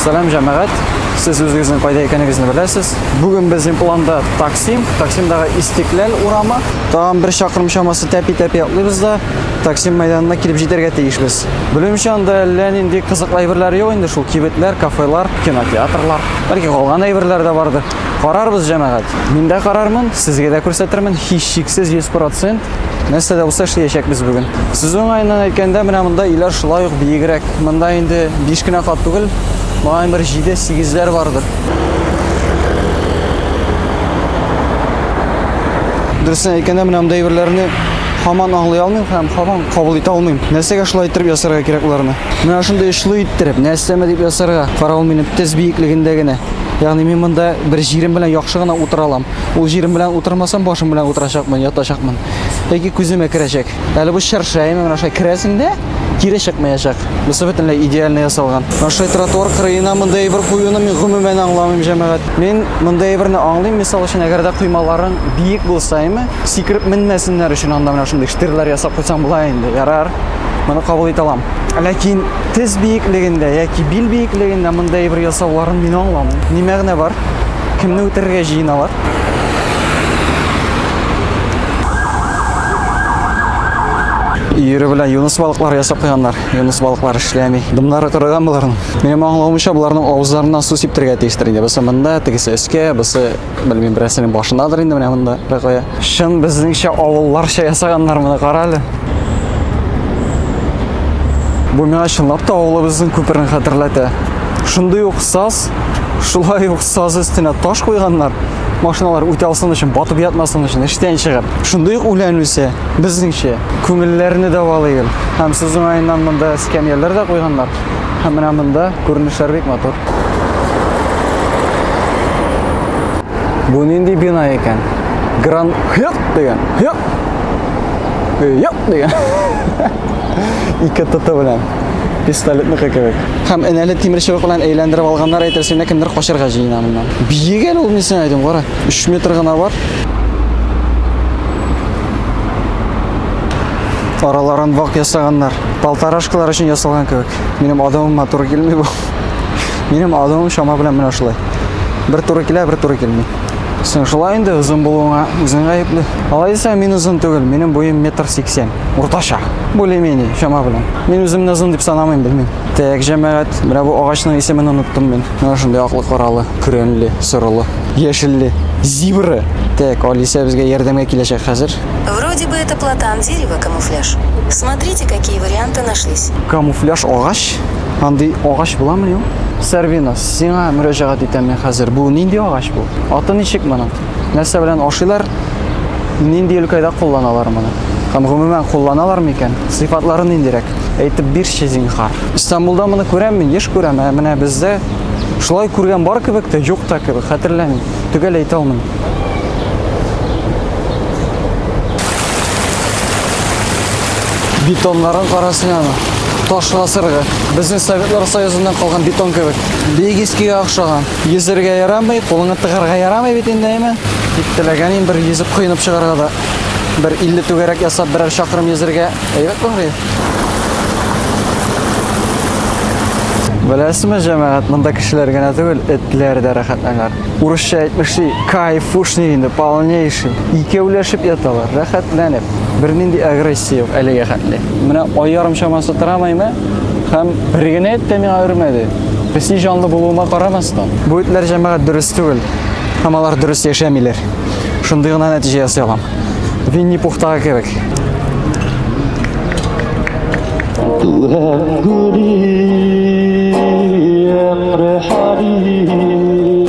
Сәлам җәмәгать! Сез үзегезнең кайда икәнегезне беләсез. Бүген безнең планда Таксим, Таксимдагы Истекләл урамы. Тагын бер чакрым чамасы тәпи-тәпи атлыйбыз да Таксим мәйданына килеп җитәргә тиешбез. Белүемчә, анда әллә нинди кызыклы әйберләр юк инде шул, кибетләр, кафелар, кинотеатрлар. Бәлки калган әйберләр дә бардыр. Карарбыз, җәмәгать. Мин дә карармын, сезгә дә күрсәтермен, һичшиксез 100%. Нәрсә дә булса эшләячәкбез бүген. Сүз уңаеннан әйткәндә, менә монда өйләр шулай ук биегрәк. Монда инде 5 кенә кат түгел, моңа бер 7-8ләр бардыр. Дөресен әйткәндә, менә монда әйберләрне һаман аңлый алмыйм һәм һаман кабул итә алмыйм. Нәрсәгә шулай иттереп ясарга кирәк уларны? Менә шундый очлы иттереп, нәрсәме дип ясарга, каравыл минем тез биеклегендә генә. Ягъни мин монда бер җирем белән яхшы гына утыра алам. Ул җирем белән утырмасам, башым белән утырачакмын, ятачакмын. Яки күземә керәчәк. Әле бу чырша яме менә шулай керәсең дә, кире чыкмаячак. Бусы бөтенләй идеально ясалган. Менә шулай тротуар кырыена монда әйбер куюны мин гомумән аңламыйм, җәмәгать. Мин монда әйберне аңлыйм, мисал өчен, әгәр дә коймаларың биек булса, әйме, сикереп менмәсеннәр өчен анда менә шундый штирлар ясап куйсаң була инде, ярар. Моны кабул итә алам. Ләкин тез биеклегендә яки бил биеклегендә мондый бер ясауларын мин аңламыйм. Ни мәгънә бар? Кемне үтерергә җыеналар? Ире белән юнус балыклар ясап куйганнар. Юнус балыклар эшләми. Дымнары кырыган буларның. Минем аңлавымча, буларның авызларыннан су сиптергә тиештер инде. Бусы монда, тегесе өскә, бусы Белмим, берәрсенең башындадыр инде менә монда кая. Чын безнеңчә авылларча ясаганнар моны кара әле. Бу миңа чынлап та авылыбызның күперен хәтерләтә. Шундый ук саз, шулай ук саз өстенә таш куйганнар. Машиналар үтә алсын өчен, батып ятмасын өчен, эштән чыгып. Шундый ук үлән үсә, безнеңчә. Күңелләрне дәвалый ул. Һәм сүз уңаеннан монда эскәмияләр дә куйганнар. Һәм менә монда күренешләр бик матур. Бу нинди бина икән? Гран Хёк дигән. Хёк. Хёк дигән. Ике тоты белән. Пистолетныкы кебек. Һәм энәле тимер чыбык белән әйләндереп алганнар әйтерсең лә кемдер качарга җыена моннан. Биек әле ул нисен әйтим, кара. 3 метр гына бар. Араларын вак ясаганнар. полторашкалар өчен ясалган кебек. Минем адымыма туры килми бу. Минем адымым чама белән менә шулай. Бер туры килә, бер туры килми. Сен шулай инде озын булуыңа үзең гаепле. Алай дисәң, мин озын түгел, минем буем метр сиксән. Уртача. Более-менее, чама белән. Мин үземне озын дип санамыйм, белмим. Тәк, җәмәгать, менә бу агачның исемен оныттым мин. Менә шундый аклы каралы, көрәнле, сорылы, яшелле, зибра. Тәк, Алисә безгә ярдәмгә киләчәк хәзер. Вроде бы это платан дерева камуфляж. Смотрите какие варианты нашлись. Камуфляж агач? Андый агач буламыни ул? Сәрвина, сиңа мөрәҗәгать итәм мин хәзер. Бу нинди агач бу? Аты ничек моның? Нәрсә белән ашыйлар? Нинди өлкәдә кулланалар моны? Һәм гомумән кулланалар микән? Сыйфатлары ниндирәк? Әйтеп бирче, зинһар. Истанбулда моны күрәм мин, еш күрәм, ә менә бездә шулай күргән бар кебек тә, юк та кебек, хәтерләмим. төгәл әйтә алмыйм. Бетонларын карасын аны. Таш гасыргы. Безнең Советлар Союзыннан калган бетон кебек. Бик искегә охшаган. Йөзергә ярамый, кулыңа тыгарга ярамый бит инде, әйме? Тик теләгәнем бер йөзеп коенып чыгарга да. Бер 50 түгәрәк ясап, берәр чакрым йөзергә әйбәт булыр иде. Беләсезме, җәмәгать, монда кешеләр генә түгел, этләр дә рәхәтләнәләр. Урысча әйтмешли, кайфушный инде, полнейший. Икәүләшеп яталар, рәхәтләнеп. Бернинди агрессия юк әлегә хәтле. Менә ай ярым чамасы трамайны һәм бер генә эт тә миңа өрмәде. Песи җанлы булуыма карамастан. Бу этләр җәмәгать дөрес түгел. Һәм алар дөрес яшәмиләр. Шундый гына нәтиҗә ясый алам. Винни Пухтага кебек.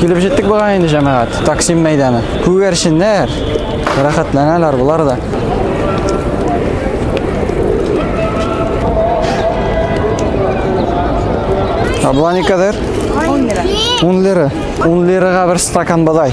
Килеп җиттек буга инде җәмәгать. Таксим мәйданы. Күгәрченнәр. Рәхәтләнәләр булар да. Абла никадәр? 10 лира. 10 лира. 10 лирага бер стакан бодай.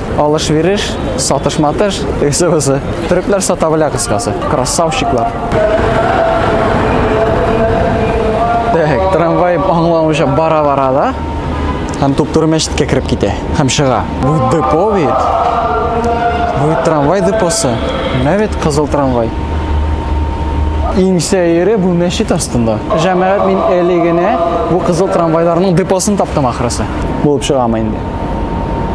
Алыш-вереш, сатыш-матыш, тегесе-бысы. Төрекләр сата белә кыскасы. Красавчиклар. Так, трамвай аңламыйча бара-бара да һәм туп-туры мәчеткә кереп китә һәм чыга. Бу депо бит. Бу трамвай депосы. Менә бит кызыл трамвай. Иң сәере бу мәчет астында. Җәмәгать мин әле генә бу кызыл трамвайларның депосын таптым ахрысы. Булып чыгамы инде.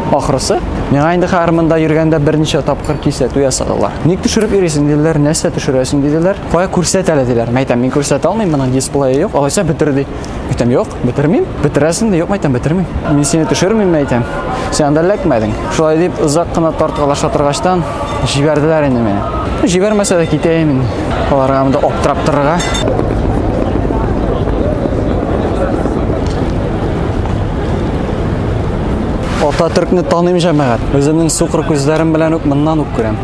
Ахрысы, миңа инде хәзер монда йөргәндә берничә тапкыр кисәтү ясадылар. Ник төшереп йөрисең диделәр, нәрсә төшерәсең диделәр. Кая күрсәт әле диләр. Мәйтәм, мин күрсәтә алмыйм, моның дисплее юк. Алайса бетер ди. Мәйтәм, юк, бетермим. Бетерәсең дә юк, мәйтәм, бетермим. Мин сине төшермим, мәйтәм. Син анда эләкмәдең. Шулай дип озак кына тарткалаша торгачтан җибәрделәр инде мине. Җибәрмәсә дә китәем мин. Аларга монда аптырап торырга. Ата төркне таныйм җәмәгать. Үземнең сукыр күзләрем белән үк моннан үк күрәм.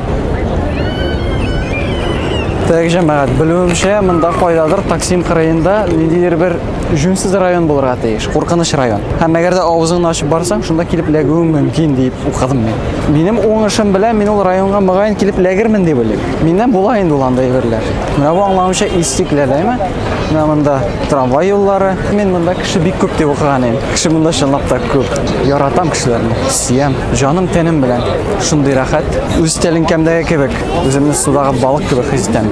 Тәк җәмәгать, белүемчә, монда кайдадыр Таксим кырыенда ниндидер бер җүнсез район булырга тиеш, куркыныч район. Һәм әгәр дә авызыңны ачып барсаң, шунда килеп ләгүең мөмкин дип укыдым мин. Минем уңышым белән мин ул районга мөгаен килеп ләгермен дип уйлыйм. Миннән була инде ул андый әйберләр. Менә бу аңлавымча истикләләме? Менә монда трамвай юллары. Мин монда кеше бик күп дип укыган идем. Кеше монда чынлап та күп. Яратам кешеләрне, сөям. Җаным тәнем белән. Шундый рәхәт. Үз тәлинкәмдәге кебек. Үземне судагы балык кебек хис итәм.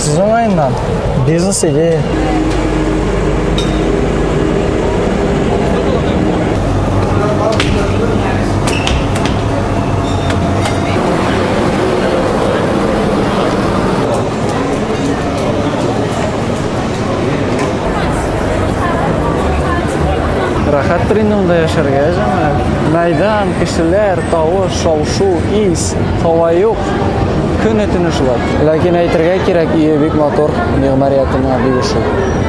Сіз оңайынан бизнес идея. Рәхәттер инде монда яшәргә, җәмәгать. Мәйдан, кешеләр, тавыш, шау-шу, ис, һава юк. Көне төне шулай. Ләкин әйтергә кирәк, ие бик матур, мигъмариятына бик ошый.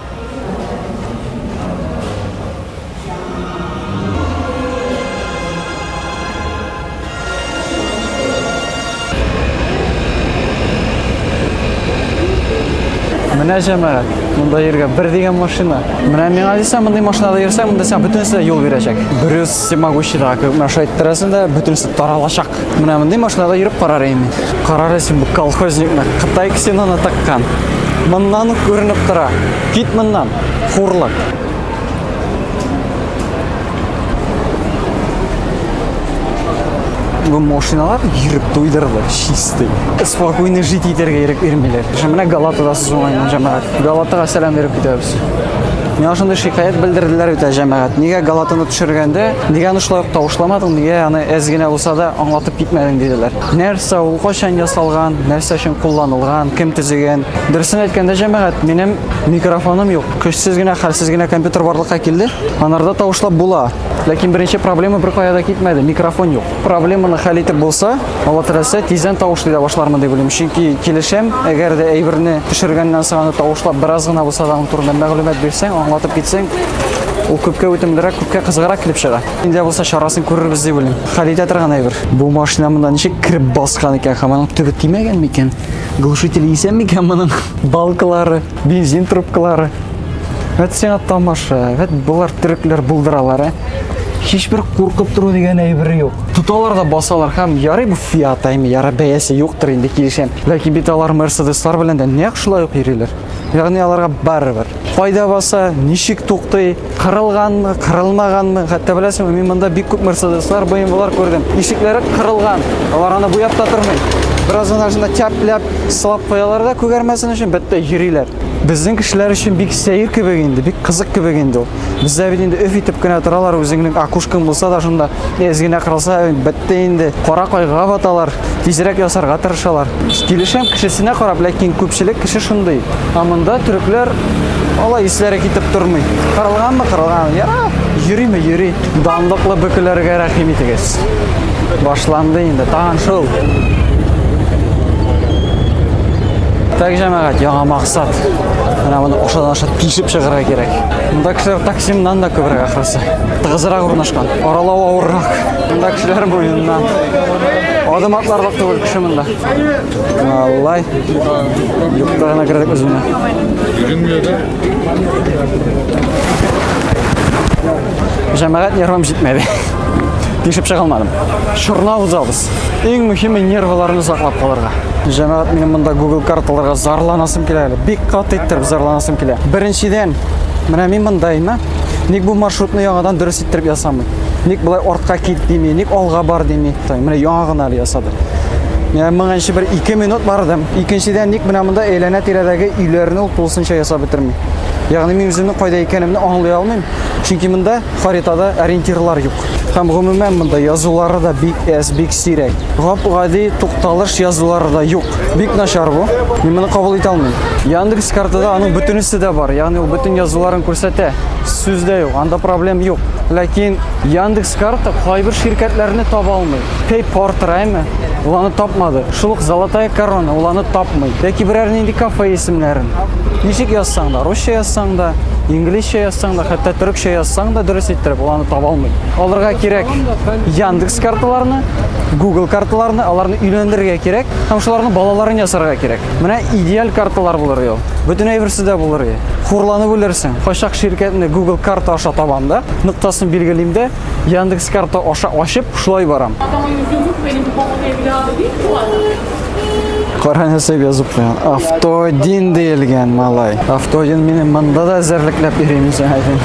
Менә җәмәгать, монда йөргә бер дигән машина. Менә миңа дисә, мондый машинада йөрсәң, монда сиңа бөтенесе дә юл бирәчәк. Брюс всемогущий да, менә шулай иттерәсең дә, бөтенесе таралачак. Менә мондый машинада йөреп карар идем мин. Карар өчен бу колхозникны Кытай ксеноны таккан. Моннан ук күренеп тора. Кит моннан, хурлык. Бу машиналар йөреп туйдырды, чистый. Спокойно жить итәргә ирек бирмиләр. Менә Галатада сүз уңайны җәмәгать. Галатага сәлам биреп китәбез. Миңа шундый шикаят белдерделәр бит җәмәгать. Нигә галатаны төшергәндә, нигә аны шулай ук тавышламадың, нигә аны әз генә булса да аңлатып китмәдең диделәр. Нәрсә ул, кайчан ясалган, нәрсә өчен кулланылган, кем төзегән? Дөресен әйткәндә, җәмәгать, минем микрофоным юк. Көчсез генә, хәлсез генә компьютер барлыкка килде. Анарда тавышлап була. Ләкин беренче проблема бер кая да китмәде, микрофон юк. Проблеманы хәл итеп булса, Алла теләсә, тиздән тавышлый да башлармын дип уйлыйм. Чөнки килешәм, әгәр дә әйберне төшергәннән соң аны тавышлап бераз гына булса да аның турында мәгълүмат бирсәң, аңлатып китсәң, ул күпкә үтемлерәк, күпкә кызыграк килеп чыга. Инде булса чарасын күрербез дип уйлыйм. Хәл итә торган әйбер. Бу машина монда ничек кереп баскан икән һәм аның төбе тимәгән микән? Глушителе исән микән моның? Балкалары. Бензин трубкалары. Вәт сиңа тамаша, вәт болар төрекләр булдыралар, ә? Һичбер куркып тору дигән әйбер юк. Тоталар да басалар һәм ярый бу Fiat әйме, яра бәясе юктыр инде килешәм. Ләкин бит алар Mercedes-лар белән дә нәкъ шулай ук йөриләр. Ягъни аларга барыбер. Кайда баса, ничек туктый, Кырылганмы, кырылмаганмы? Хәтта беләсеңме, мин монда бик күп Мерседеслар, BMW-лар күрдем. Ишекләре кырылган. Алар аны буяп та тормый. Бераздан арасында тяп-ляп сылап куялар да күгәрмәсен өчен, бәттә йөриләр. Безнең кешеләр өчен бик сәер кебек инде, бик кызык кебек инде ул. Бездә бит инде өф итеп кенә торалар, үзеңнең акушкаң булса да шунда әз генә кырылса, бәттә инде кара кайгыга баталар. Тизрәк ясарга тырышалар. Килешәм кешесенә карап, ләкин күпчелек кеше шундый. Ә монда төрекләр алай исләре китеп тормый. Кырылганмы, кырылган. Яра, йөриме, йөри. Данлыклы бөкеләргә рәхим итегез. Башланды инде, тагын шул. Так, җәмәгать, яңа максат. Менә моны ошадан аша тишеп чыгарга кирәк. Монда кешеләр таксимнан да күбрәк ахрысы. Тыгызрак урнашкан. Аралау авыррак. Монда кешеләр муеныннан. Адым атларлык түгел кеше монда. Аллай. Юкта гына кердек без монда. Җәмәгать нервым җитмәде. Тишеп чыга алмадым. Шурна узабыз. Иң мөһиме нервларны саклап калырга. Җәмәгать минем монда Google карталарга зарланасым килә әле. Бик каты иттереп зарланасым килә. Беренчедән, менә мин мондаймы? Ник бу маршрутны яңадан дөрес иттереп ясамый. Ник болай артка кит дими, ник алга бар дими. Менә яңа гына әле ясады. Менә моңа инше бер 2 минут бардым. Икенчедән ник менә монда әйләнә тирәдәге өйләрне ул тулысынча ясап бетерми. Ягъни мин үземне кайда икәнемне аңлый алмыйм, чөнки монда харитада ориентирлар юк. Һәм гомумән монда язулары да бик әз, бик сирәк. Гап-гади тукталыш язулары да юк. Бик начар бу. Мин моны кабул итә алмыйм. Яндекс картада аның бөтенесе дә бар, ягъни ул бөтен язуларын күрсәтә. сүз дә юк, анда проблем юк. Ләкин Яндекс карта кайбер ширкәтләрне таба алмый. Пей портрайме, ул аны тапмады. Шул ук Золотая корона, ул аны тапмый. Яки берәр нинди кафе исемнәрен. Ничек язсаң да, русча язсаң да, инглизчә язсаң да, хәтта төрекчә язсаң да дөрес иттереп ул аны таба алмый. Аларга кирәк Яндекс карталарны, Google карталарны, аларны өйләндерергә кирәк һәм шуларны балаларын ясарга кирәк. Менә идеаль карталар булыр ел. Бүтін әйберсе дә булыр е. Хурланып үлерсең. Кайчак ширкәтне Google карта аша табам да, ноктасын билгелим дә, Яндекс карта аша ачып, шулай барам. Кара нәрсә язып куйган. Автодин диелгән малай. Автодин минем монда да әзерлекләп йөрим исән әйтем.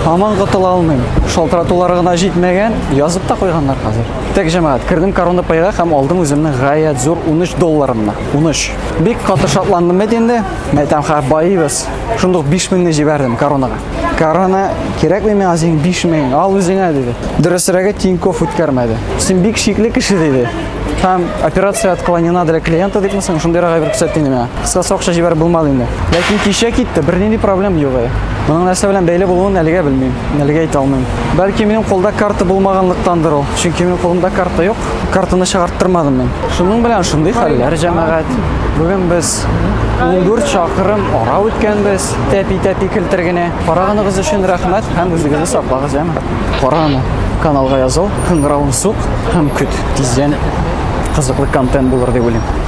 Һаман котыла алмыйм. Шалтыратулар гына җитмәгән, язып та куйганнар хәзер. Тәк җәмәгать, кердем корона пайга һәм алдым үземне гаять зур 13 долларымны. 13. Бик каты шатландым бит инде. Мәйтәм хәр байыбыз. Шундук 5000 не җибәрдем коронага. Корона кирәкми миңа синең 5000, ал үзеңә диде. Дөресрәге Тиньков үткәрмәде. Син бик шикле кеше диде. Һәм операция отклонена для клиента дип мисең, шундый рагай бер күрсәтте миңа. Кыскасы акча җибәреп булмады инде. Ләкин кичә китте, бернинди проблем юк иде. Моның нәрсә белән бәйле булуын әлегә белмим, әлегә әйтә алмыйм. Бәлки минем кулда карта булмаганлыктандыр ул, чөнки минем кулымда карта юк. картаны чыгарттырмадым мин. Шуның белән шундый хәлләр, җәмәгать. Бүген без 14 чакрым ара үткәнбез, тәпи-тәпи килтер генә. Караганыгыз өчен рәхмәт һәм үзегезне саклагыз, җәмәгать. Кара аны, каналга языл, кыңгыравын сук һәм көт. Тиздән кызыклы контент булыр дип уйлыйм.